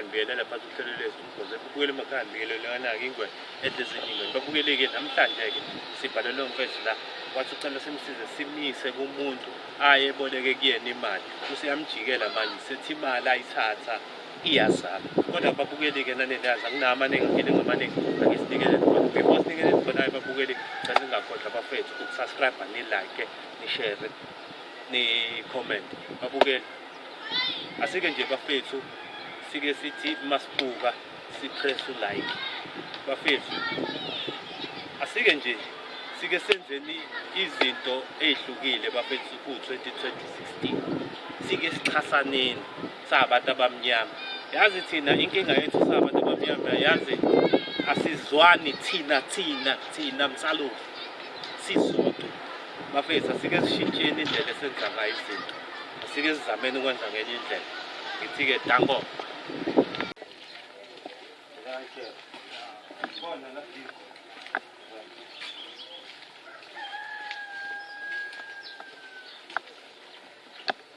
ngibuyelele phansi uhlelo lwethu umgoze kubuyele emakhaya ngibiyele leyona-ke ingwe edlezinyingweni babukeleke namhlanje-ke sibhale leyo mfethu la wathi ucela simsize simise kumuntu aye eboleke kuyena imali useyamjikela manje sethi imali ayithatha iyazala kodwa ababukeli-ke naneliyazi anginawo amaningi ngifile ngamaningi angisinikele before sinikele nibonayo ababukeli cela ningakhohlwa bafethu ukusubscribe nilike nishere ni-comment babukeli asike nje bafethu sike sithi masibuka sipress ulike bafethu asike nje sike senzeni izinto ezihlukile bafethu ku-2016 sike sixhasaneni Sabantu abamnyama yazi thina inkinga yethu sabantu abamnyama yazi asizwani thina thina thina msalovu sisodwa bafethu asike sishintsheni indlela esenza ngayo izinto asike sizameni ukwenza ngenye indlela ngithi-ke danko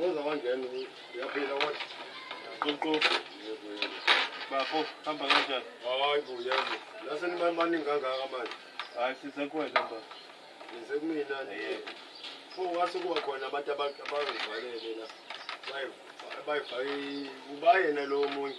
ngoza wangena uyaphila kodwa qoqoqo bafo hamba kanjani hayi bo yabo lase nimani baningi kangaka manje hayi size kuwena ba nize kumina fo wase kuba khona abantu abazivalele la bayifake ubayena lowo munye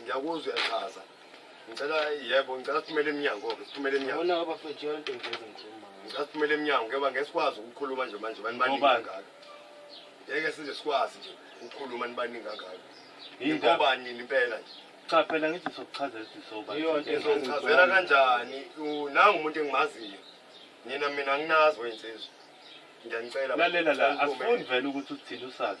Ngiyakuzwa uyachaza. Ngicela yebo ngicela siphumele emnyango-ke siphumele emnyango. Yabona abafethu yonke into nje engikhuluma ngayo. Ngicela siphumele emnyango ngoba ngeke sikwazi ukukhuluma nje manje bani baningi Ngobani? kangaka. Ngeke size sikwazi nje ukukhuluma nibaningi kangaka. Yini ndaba? Ngobani nini impela nje? Cha phela ngithi sokuchazela ukuthi sobani. Yonke into Ngizonichazela engikhuluma ngayo. kanjani? U- Nangu umuntu engimaziyo. Nina mina anginazi wensizwa. Ngiyanicela. Lalela la, Ngicela nikhulume. asifuni vele ukuthi uthini usazi.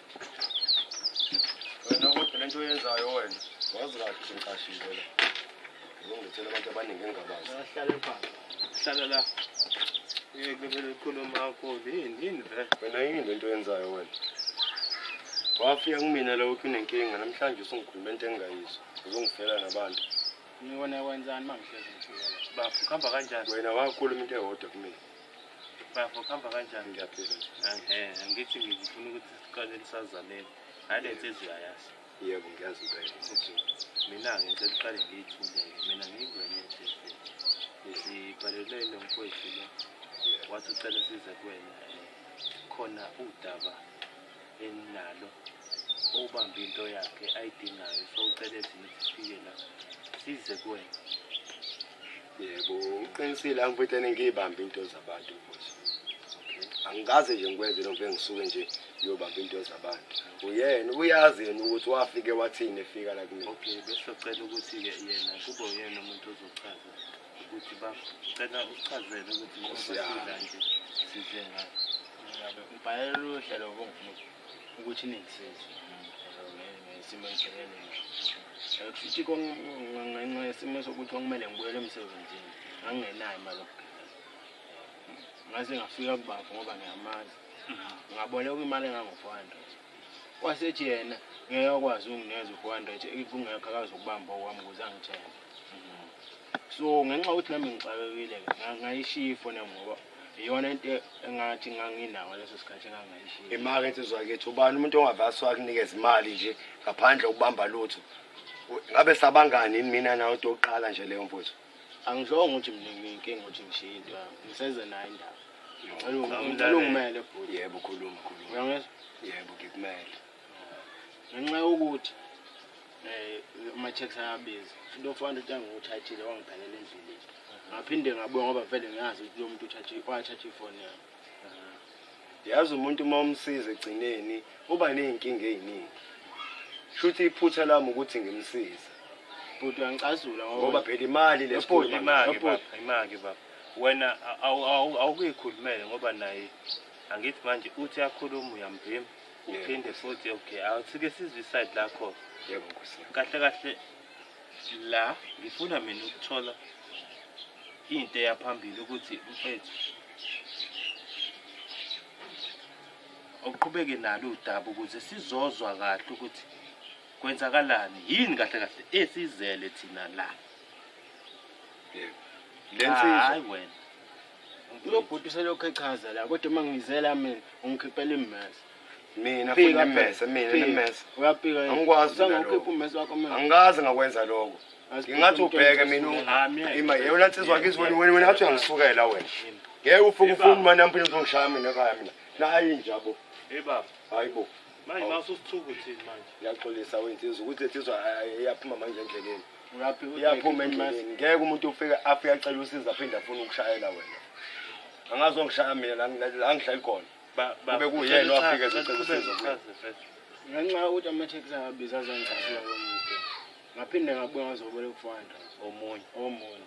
Wena kodwa lento oyenzayo wena. Wazi kahle ukuthi ngiqashile la. Ngizongithela abantu abaningi engabazi. Hlale phansi. Hlala la. Yeke vele ukhuluma kakhulu. Yini yini vele? Wena yini lento oyenzayo wena? Wafika kumina la uthi unenkinga namhlanje usungikhuluma into engingayizwa. Uzongifela nabantu. Ngibona kwenzani mangihlezi ngithukela. Bafo, kuhamba kanjani? Wena wakhuluma into eyodwa kumina. Bafo kuhamba kanjani? Ngiyaphila nje. Ehe, angithi ngifuna ukuthi siqale lisazaneni. Hayi le nsizwa uyayazi. Yebo ngiyazi impela. Okay. Mina-ke ngicela uqale ngiyithule-ke. Mina ngiyingwenya ehlefeni. Sibhalelwe lo mfowethu lo. Wathi ucela size kuwena. eh, Khona udaba enginalo. Ubambe into yakhe ayidingayo. So ucele thina ukuthi sifike la. Size kuwena. yebo uqinisile angifethe ngiyibambe into zabantu mfowethu angikaze nje ngikwenze lokho engisuke nje uyobamba into zabantu uyena uyazi yena ukuthi wafike wathini efika la kumina okay besizocela ukuthi-ke yena kube uyena umuntu ozochaza ukuthi bacela usichazele ukuthi njengoba sidla nje sidle ngayo ubhalela oluhle lobo ngifuna ukuthi ningisize ngesimo engibhekene naso kushuthi ngenxa yesimo sokuthi kwakumele ngibuyele emsebenzini ngangingenayo imali yokugibela ngaze ngafika kubafo ngoba ngiyamazi ngaboleka imali engango-four hundred kwasethi yena ngeke akwazi ukungineza u-four hundred kungekho akazokubamba okwami ukuze angithenge so ngenxa yokuthi nami ngixakekile-ke ngayishiya ifoni yami ngoba iyona into engathi nganginawo leso sikhathi engangayishiya imakethe zwakithi ubani umuntu ongavasi wakunikeza imali nje ngaphandle ukubamba lutho ngabe sabangani yini mina nawe into yokuqala nje leyo mfowethu angizonge ukuthi mina nginenkinga ukuthi ngishiye into yami ngiseze nayo indaba ngicela ungimele bhuti yebo khuluma khuluma uyangizwa yebo ngikumele ngenxa yokuthi um ama-checks ayabiza futhi ofana ukuthi angiwuthathile wangiphelela endleleni ngaphinde ngabuya ngoba vele ngiyazi ukuthi lo muntu wathatha ifoni yami yazi umuntu uma umsiza egcineni uba ney'nkinga ey'ningi shuthi iphutha lami ukuthi ngimsize bhuti uyangicazula ngoba phela imali leimake baba wena awukuyikhulumele ngoba naye angithi manje uthi akhulume uyambhima uphinde futhi okay awusike sizwe iside lakho yebo nkosi kahle kahle la ngifuna mina ukuthola into eyaphambili ukuthi mfethu uqhubeke nalo udaba ukuze sizozwa kahle ukuthi kwenzakalani yini kahle kahle esizele thina la yebo lensizwa hayi wena Lo bhuti uselokhu echaza la kodwa uma ngizela mina ungikhiphela immese. Mina futhi Fika nemmese, phela, mina fika. nemmese. Uyapika yini? Angikwazi mina Uzange ukhiphe lokho. ummese wakho manje. Angikaze ngakwenza lokho. Aziphuphe Ngingathi umuntu ubheke oyinhliziyo mina yakho. Ah, mina. ima yewona nsizwa kithi wena wena wena athi uyangisukela wena. Ngeke ufuke ufune imali yami phinde uzongishaya mina ekhaya mina. Nayi njabo. Hey baba, Hayibo. manje mawususithuka uthini manje? Ngiyaxolisa wensizwa ukuthi lensizwa iyaphuma manje endleleni. uyaphuma endleleni ngeke umuntu ufike afike acela usiza aphinde afuna ukushayela wena angazi ongishaya mina la ngihleli khona kube kuyena wafike ezocela usizo ngenxa yokuthi ama-taxi angabiza azangiqashiya komuntu ngaphinde ngabuya ngazoboleka u-four hundred omunye omunye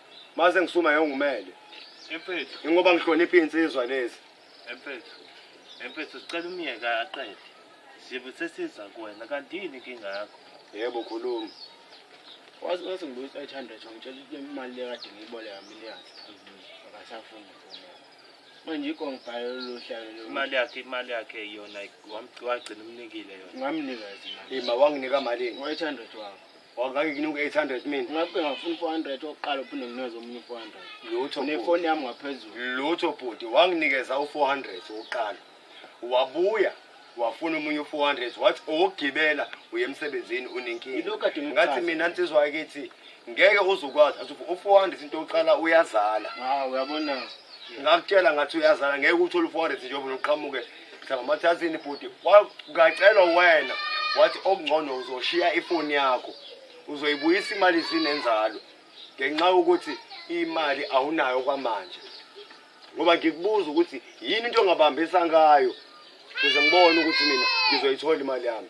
Mase ngisuma ngengumele. Emfethu. Ingoba ngihlonipha insizwa lezi. Emfethu. Emfethu sicela umyeka aqede. Sibe sesiza kuwena kanti yini inkinga yakho? Yebo khuluma. Wazi wazi ngibuyisa 800 wangitshela ukuthi imali le kade ngiyiboleka millions. Akasafuni ukufuna. Manje ikho ngibhale lolu hlelo lolu. Imali yakhe imali yakhe yona wamgcina umnikile yona. Ngamnikeza imali. Ima wanginika malini? 800 wakho. Wangake ngine u-800 mina. Ngabe ngafuna u-400 oqala uphinde nginikeze omunye u-400. Lutho. Nefoni yami ngaphezulu. Lutho bhuti wanginikeza u-400 oqala. Wabuya wafuna umunye u-400 wathi owokugibela uye emsebenzini unenkinga. Ngathi mina nsizwa yakithi ngeke uzukwazi athi u-400 into oqala uyazala. Hawu uyabona. Ngakutshela ngathi uyazala ngeke uthole u-400 njengoba uqhamuke Mhlawumbe athi bhuti ngacelwa wena wathi okungcono uzoshiya ifoni yakho uzoyibuyisa imali zinenzalo ngenxa yokuthi imali awunayo kwamanje ngoba ngikubuza ukuthi yini into ongabambisa ngayo ukuze ngibone ukuthi mina ngizoyithola imali yami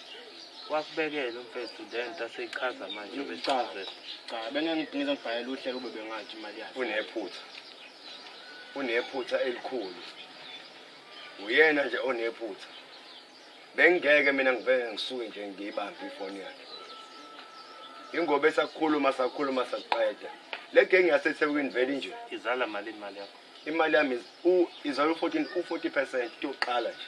wasibekela umfethu lento aseyichaza manje ubechaze cha bengengidingiza ngibhalela uhlelo ube bengathi imali yakhe unephutha unephutha elikhulu uyena nje onephutha bengingeke mina ngivele ngisuke nje ngiyibambe ifoni yakhe ingoba esakhuluma sakhuluma sakuqeda le genge yasethekwini vele nje izala mali imali yakho imali yami izala u-14 u-40 percent yokuqala nje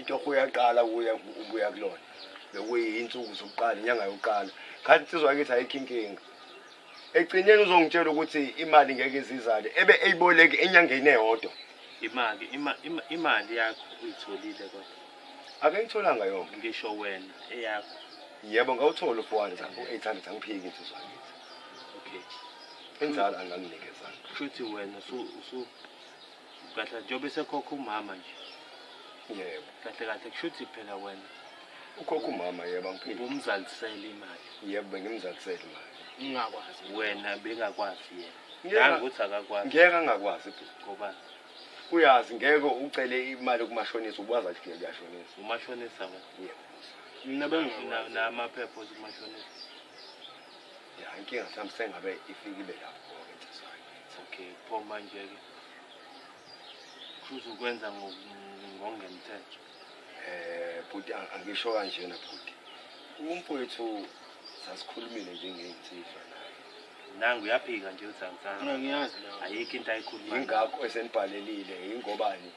itoho uyaqala kuya ubuya kulona bekuyinsuku zokuqala inyanga yokuqala khathi insizwa yakithi ayikho inkinga egcineni uzongitshela ukuthi imali ngeke izizale ebe eyiboleki enyangeni eyodwa imali imali yakho uyitholile kodwa ake ngitholanga yonke ngisho wena eyakho yebo ngawuthola u-400 u-800 angiphiki insizwa yakithi okay inzalo anganginikeza kushuthi wena usu kahle njengoba esekhokha umama nje yebo kahle kahle kusho ukuthi phela wena ukhokha umama yebo angiphinde ubumzalisele imali yebo bengimzalisele imali ngingakwazi wena bengakwazi yena ngeke ukuthi akakwazi ngeke angakwazi bhuti ngoba uyazi ngeke ucele imali kumashonisa ubaza ukuthi ngeke yashonisa umashonisa wena yebo mina bengifuna namaphepha othi umashonisa ya inkinga mhlawumbe sengabe ifikile lapho okay phoma nje-ke uzokwenza ngokungemthetho eh bhuti angisho kanjena bhuti umfowethu sasikhulumile njengey'nsizwa naye nangu uyaphika nje uthi angisazi ngiyazi ayikho into ayikhuluma yingakho esenibhalelile yingobani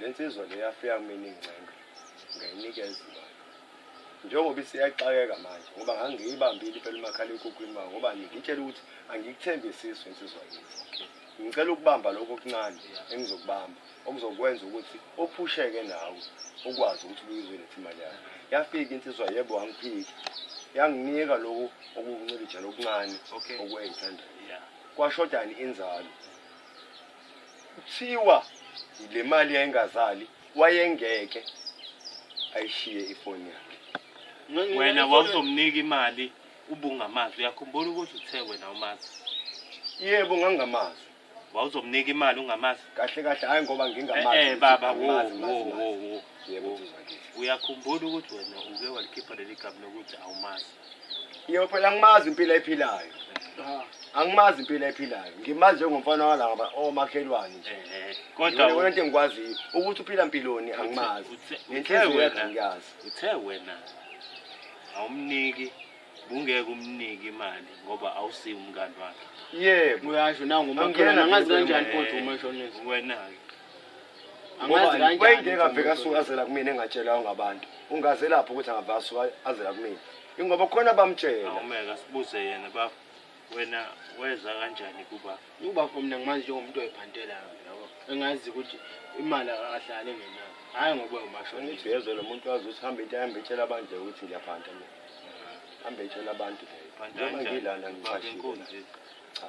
Le nsizwa le yafika kumina ingcenga ngayinikeza imali njengoba isiyaxakeka manje ngoba ngangiyibambile impela umakhalekhukhwini ma ngoba ngitshela ukuthi angikuthembisiso insizwa yethu ngicela ukubamba lokho okuncane engizokubamba okuzokwenza ukuthi ophusheke nawe ukwazi ukuthi ubuyizwe lethi imali yakho yafika insizwa yebo wangiphiki yanginika lokhu okuncilijana okuncane okwengithandayo kwashodani inzalo Kuthiwa le mali yayingazali wayengeke ayishiye ifoni yakhe. Wena wawuzomnika imali ubungamazi. Uyakhumbula ukuthi uthe wena umazi. Yebo ngangingamazi. Wawuzomnika imali ungamazi? Kahle kahle hayi ngoba ngingamazi. Eh, eh baba wo wo wo wo. Yebo nsizwa ngithi. Uyakhumbula ukuthi wena uke walikhipha leli gama lokuthi awumazi. Ngiyophela ngimazi impilo ephilayo. Angimazi impilo ephilayo. Ngimazi njengomfana walaba omakhelwane nje. Eh, Kodwa Yona wena into engikwaziyo ukuthi uphila mpiloni angimazi. uthe- uthe Nenhliziyo wena- yakhe ngiyazi. Uthe wena awumniki bungeke umnike imali ngoba awusiyi umngani wakhe. Yebo. Uyasho nangu Angiyena umakhelwane angazi mina kanjani lomama. kodwa uma eshonisa. Wena-ke. Angazi kanjani. wayengeke aveke asuke azela kumina engatshelwayo ngabantu ungaze lapho ukuthi angave asuke azela kumina ingoba khona bamtshela Awumeke asibuze yena baba. Wena weza kanjani kuba? Ubafo mina ngimazi njengomuntu oyibhantelayo yabo. Engazi ukuthi imali akahlale ngenayo. Hayi ngoba umashonisa. ngithi yezwe lo muntu wazi ukuthi hambe into ahambe etshela abantu nje ukuthi ngiyaphanta mina hambe etshela abantu nje Phanta njengoba kanjani? ngilana Baba ngiqashile enkunzi. cha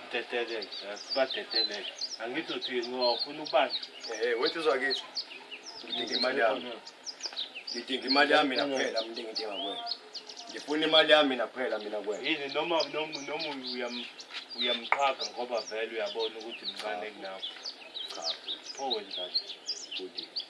Dedeleke, sibadedeleke. Angithi uthi ngofuna ubani? Eh, wethi uzwa kithi. Ngidinga imali yami. Ngidinga imali yami mina kuphela, mina ngidinga kuwe. Ngifuna imali yami mina kuphela mina kuwe. Yini noma noma noma uyam uyamqhaga ngoba vele uyabona ukuthi mncane kunawe. Cha. Pho wenzani? Bhuti.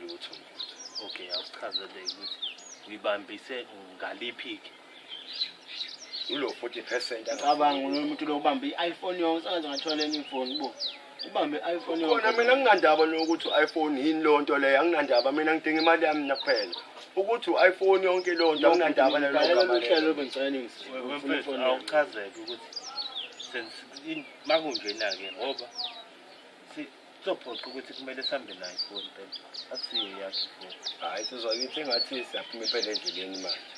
lutho okay awusichazele ukuthi uyibambise ngaliphi-ke ulo 40 percent cabanga umuntu lokubamba i-iphone yonke sengaze ngathola enye ifoni bo ubambe i-iphone yonke khona mina nginandaba nokuthi u-iphone yini leyo nto leyo anginandaba mina ngidinga imali yami nakuphela ukuthi u-iphone yonke leyo nto anginandaba nalelo gama lelo awuchazeke ukuthi Makunjena-ke ngoba kuzophoqa ukuthi kumele sihambe nayo ifoni phela akusiyo yakhe ifoni hhayi sizwa kithi engathi siyaphuma impela endleleni manje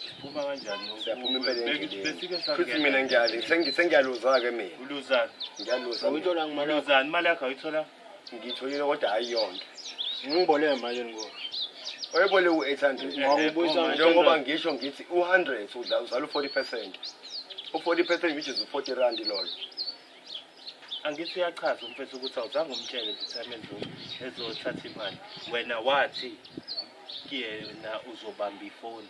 siphuma kanjani siyaphuma impela endlelenifuthi mina ngiyale sengiyaluzwa-ke mina uluzani ngiyaluzani imali yakho ayitholanga Ngitholile kodwa hayi yonke. Ngibole manje ngoba. Oyebole u800. Ngakubuyisa manje ngoba ngisho ngithi u100 udla uzala u40%. U40% which is u40 rand loyo. Angithi uyachaza umfethu ukuthi awuzange umtshele ukuthi amenze ezothatha imali. Wena wathi kuyena uzobamba ifoni.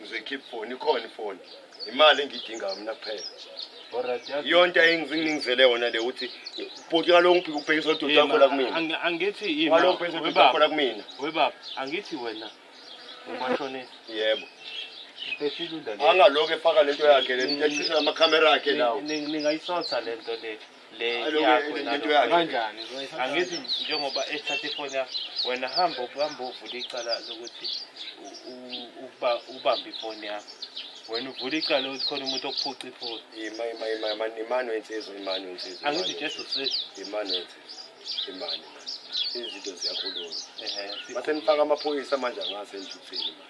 ngizoyi keep phone ikhona ifoni imali engidingayo mina kuphela yonto ayengizingizele yona le ukuthi bhuti ngalo ngibhika ubhekisa udoti wakho la kumina angithi yini ngalo ubhekisa udoti wakho la kumina we baba angithi wena umashonisa yebo angaloko efaka lento yakhe le nto eshisa amakhamera akhe lawo ningayisotha lento le le Alo, yakho le- le- nalo. lento yakhe. Kanjani? angithi njengoba ethatha ifoni yakho wena hamba uhamba uvula icala lokuthi u- u- ukuba ubambe ifoni yakho wena uvula icala lokuthi khona umuntu okuphuca ifoni Ima ima ima ima imani wensizwa imani wensizwa. angithi just usizo imani wensizwa. Imani. Izinto ziyakhuluma. Mase nifaka amaphoyisa manje angase enjuthini manje.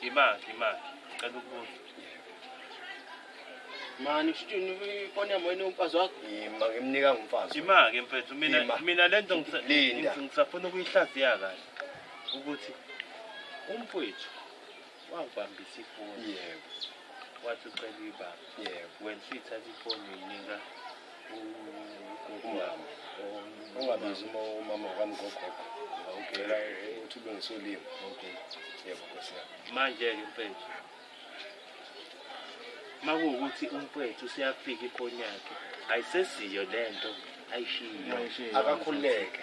Ngimaki, ngimaki. Ngicela ukubuza. Mani kushini ifoni yami wena umfazi wakho? Yima ngimnika ngumfazi. Ngimaki mfethu mina Ima. mina lento ngisa- Linda. ngis- ngisafuna ukuyihlaziya kahle ukuthi umfwethu wangibambisa ifoni Yebo, wathi ucela ibaba yebo. wena suyithatha ifoni uyinika ungabizi umama wakamgogogo ngawugela ukuthi ulungise ulimi yebo nkosi yami manje-ke mfethu uma kuwukuthi umfethu useyafika iphoni yakhe ayisesiyo le nto ayishiyo akakhululeke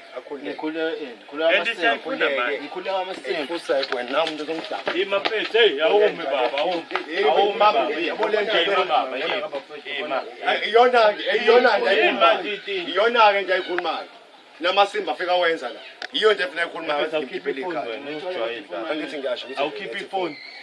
iyona-ke nje ayikhulumayo namasimba afika wenza la yiyo nje funa ayikhulumayo angithi ngiyasho awukhiphe ifoni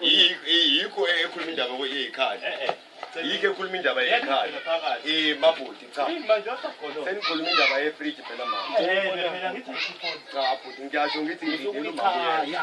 yikho ekhuluma indaba yeyikhaya eh, eh. yikho ekhuluma indaba yekhaya eh, mabhuti cha senikhuluma indaba yefriji phela mama cha bhuti ngiyasho ngithi ngidela umabuyela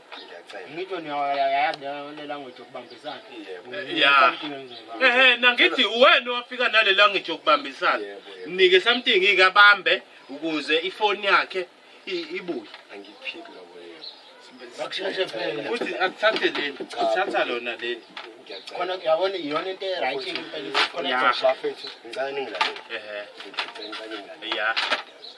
ehe nangithi uwena owafika nale language yokubambisana mnike something ike abambe ukuze ifoni yakhe i- ibuye Bakusheshe phela. futhi akuthathe leli uthatha lona leli Khona uyabona iyona into e-right impela ukuthi khona Ya. ezoshaya. ehe ya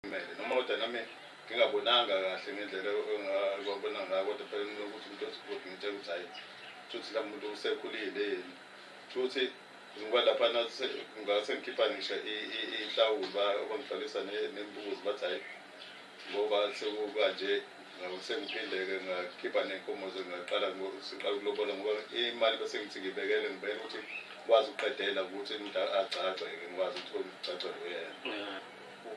Kumele noma kodwa nami ngingabonanga kahle ngendlela engabona ngayo kodwa phela mina ukuthi umuntu osigodi ngitshela ukuthi hayi futhi la muntu usekhulile yini futhi ngoba lapha nase ngase ngikhipha ngisho ihlawulo bangihlalisa nembuzi bathi hayi ngoba sekukanje Sengiphinde-ke ngakhipha ney'nkomo zengaqala siqala ukulobola ngoba imali bese ngithi ngibekele ngibekele ukuthi ngikwazi ukuqedela ukuthi agcagceke ngikwazi ukuthi ngigcagcele uyena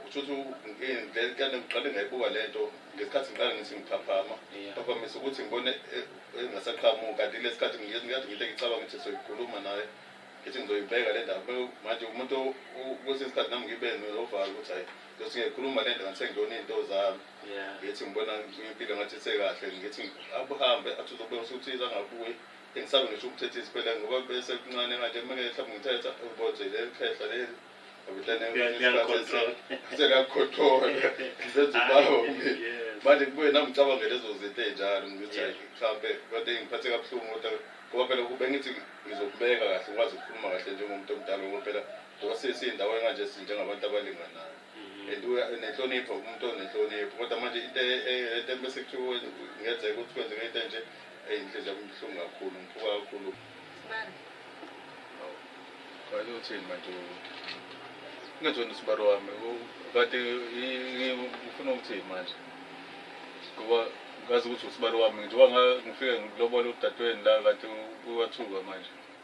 kusho ukuthi eh, kanti ngiqale ngayibuka le nto ngesikhathi ngiqale ngithi ngiphaphama ngaphamisa ukuthi ngibone eh, eh, engasaqhamuki kanti kule sikhathi ngiyezi ngiyade ngithe ngicabanga ukuthi soyikhuluma naye ngithi ngizoyibeka le ndaba manje umuntu kwesinye isikhathi nami ngibe novalo ukuthi hhayi Nkosi ngikhuluma le nto ngathi sengibona iy'nto zami Yeah. ngithi ngibona impilo ngathi isekahle ngithi akuhambe athi uzobona ukuthi angabuyi engisabe ngisho ukuthetha isiphela ngoba bese kuncane kanje kumele mhlawumbe ngithetha uboje le khehla leli Liya- liyangicontrol. sekakhothola ngizenza ubawo mina Yes. manje kubuye nami ngicabange lezo zinto ey'njalo ngithi Yeah. hhayi, mhlampe kade ngiphathe kabuhlungu kodwa ngoba phela kube ngithi ngizokubeka kahle ngikwazi ukukhuluma kahle njengomuntu omdala ngoba phela Osisi indawo enganje sinjengabantu abalinganayo mhm. and uya nenhlonipho umuntu onenhlonipho kodwa manje into e, e, into bese kuthiwa ngenzeka ukuthi kwenzeka into enje eyinhliziyo kumhlungu kakhulu ngiphuka kakhulu sibani kanye uthini manje ngezona isibaro wami kade ngifuna ukuthini manje ngoba ngazi ukuthi usibaro wami njengoba ngifike ngilobole udadewenu la kade uwathuka manje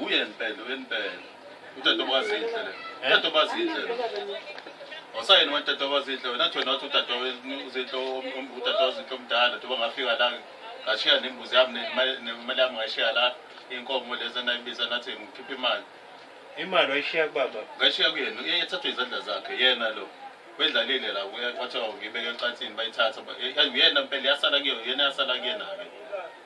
Uye mpela, uye mpela. Utata obazinhle le. Utata obazinhle le. Wasayena watata obazinhle wena athi wena wathi utata uzinhle om- utata ozinhle omdala njengoba ngafika la ngashiya nembuzi yami nemali nemali yami ngashiya la inkomo lezi enayibiza nathi ngikhipha imali Imali wayishiya kubaba. ngashiya kuyena uye ethathwe izandla zakhe yena lo wedlalile la uye kwathiwa ngibeke ecansini bayithatha ba- eh, uyena mpela yasala kuyo yena yasala kuyena-ke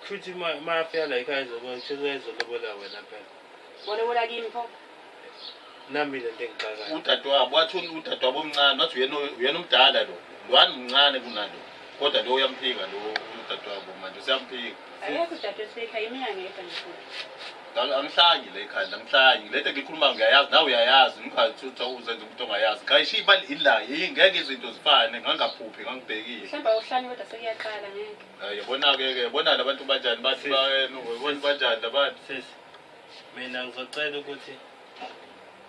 Kushuthi uma uma afika la ekhaya izokwenza kushuthi uyayizokulobola wena phela. Bona bona kimi pho. Nami le nto engixakayo. udadewabo wathi un- udadewabo omncane wathi uyena uyena umdala lo lwani mncane kunalo kodwa lo uyamphika lo udadewabo manje useyamphika Akekho udade osekhaya imina ngedwa nje futhi. Ngalo angihlangi le khaya angihlangi ngilete ngikhuluma ngiyayazi nawe uyayazi umkhathi uthi uzenza umuntu ongayazi ngayisho imali ila ngeke izinto zifane ngangaphuphi ngangibhekile Mhlawumbe awuhlani kodwa sekuyaqala ngeke. Yabona-ke-ke bona labantu banjani bathi bayena banjani labantu sisi mina ngizocela ukuthi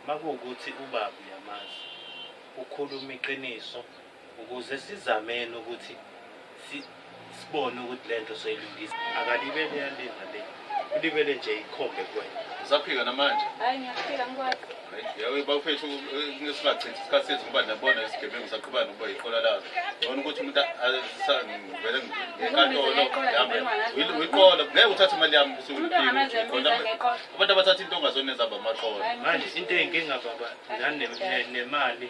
makuwukuthi ubaba uyamazi ukhuluma iqiniso ukuze sizameni ukuthi sibone ukuthi le nto soyilungisa akalibele yalinda le Ulibele nje ikhombe kuwena. Usaphika namanje? Hayi ngiyaphika ngikwazi. Yawe bafethu ngesingachithi isikhathi sethu ngoba nabona isigebengu saqhuba nokuba yiqola lazo. Ngibona ukuthi umuntu asangivele ngenkantolo yami. Uyiqola ngeke uthathe imali yami bese uyiqola. Abantu abathatha into ongazona ezaba amaqola. Manje into eyinkinga baba nani nemali.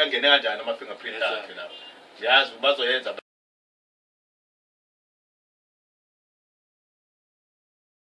angene kanjani ama fingerprint akhe lapho ngiyazi bazoyenza